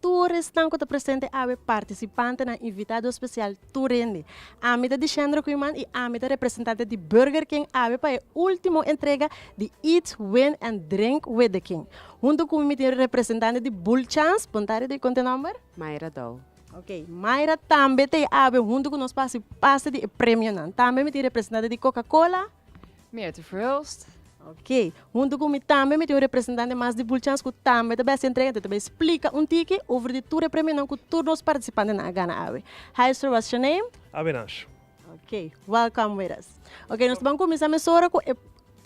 Tur esnan ku ta presente awe partisipantenan invitado espesial tur hende. Ami ta Dixendro Kuiman i ami ta representante di Burger King awe pa e ultimo entrega di Eat, Win and Drink with the King. Huntu ku mi mi tin representante di Bull Chance, puntari di konte nòmber? Myra Dow. Ok, Myra tambe ta awe huntu ku nos pa hasi pase di e premionan. Tambe mi tin representante di Coca Cola. Meerte Verhulst. Ok, huntu ku mi tambe mi tin un representante mas di Bulchans ku tambe ta bai hasi entrega, enton ta bai splika un tiki over di tur e premionan ku tur nos partisipantenan a gana awe. Hi sir, what's your name? Abenasio. Ok, welcome with us. Ok, nos ta ban kuminsá mesora ku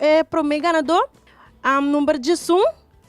e promé ganadó. Am number Jisun.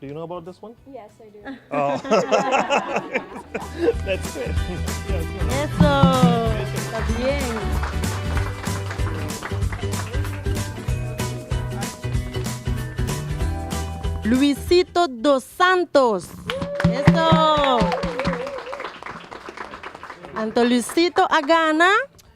Do you know about this one? Yes, I do. Oh. That's it. Eso. Está bien. Luisito dos Santos. Eso. Anto Luisito a gana.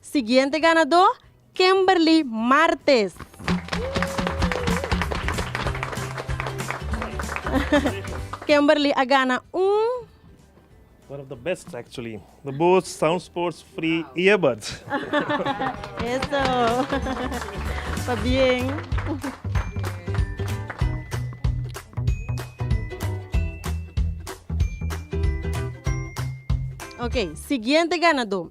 Siguiente ganadó Kemberly Martes. Kemberly a gana un. One of the best actually. The Bose Sound Sports Free Earbuds. Eso. Pa bien. Ok, siguiente ganadó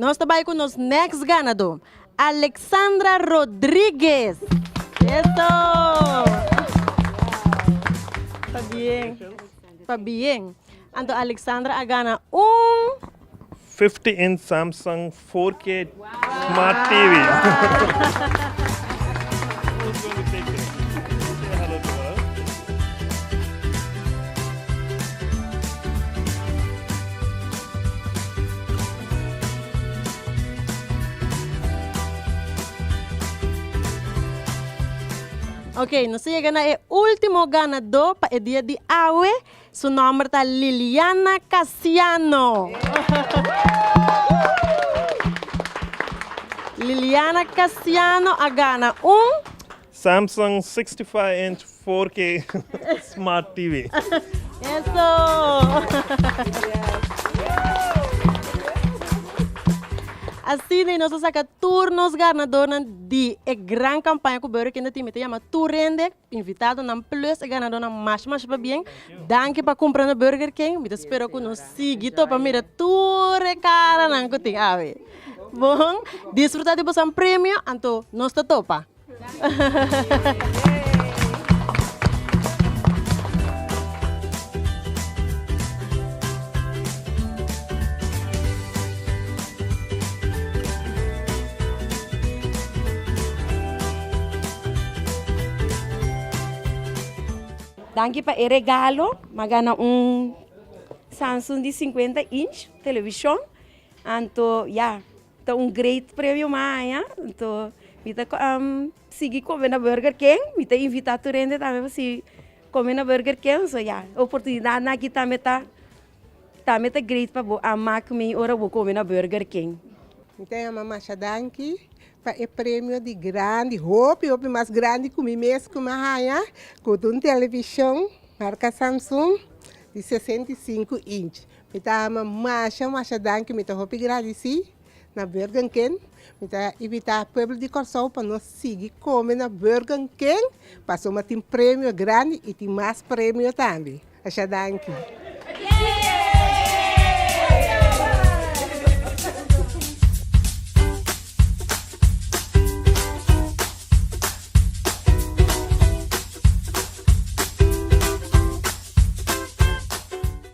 Nos ta bai ku nos next ganadó, Alexandra Rodriguez. Eso! Pabien. Pa bien. Anto Alexandra a gana un. Fifty inch Samsung 4K Smart TV. Ok, nos ta yega na e ultimo ganadó pa e dia di awe. Su nòmber ta Liliana Casiano. Liliana Casiano a gana un. Samsung 65 inch 4K Smart TV. Eso! Asina nos a saka tur nos ganadónan. Di e gran kampaña ku Burger King ta tin mi ta yama tur rende invitadonan plus e ganadonan masha masha pabien. Danki pa kumprando Burger King. Mi ta spera ku nos sigui to pa mira tur e karanan ku tin awe. Bon disfruta di boso premio anto nos ta topa. Danki pa e regalo ma gana un Samsung di sinkuenta inch televishon anto ya ta un great premio maña anto mi ta. Sigui come na Burger King, mi ta invita tur hende tambe pa sigui come na Burger King, so ya oportunidad nan aki tambe ta tambe ta great pa bo a mak mi ora bo come na Burger King. Mi ta yama masha danki pa e premio di grandi, hopi hopi mas grandi cu mi mes cu mi a haya, cu ta un television marca Samsung di sesenta i sinku inchi, mi ta ama masha masha danki, mi ta hopi gradici. Na Burger King, mi ta invita e pueblo di Corsou pa nos sigui come na Burger King pasobra tin premio grandi y tin mas premio tambe. Asha danki.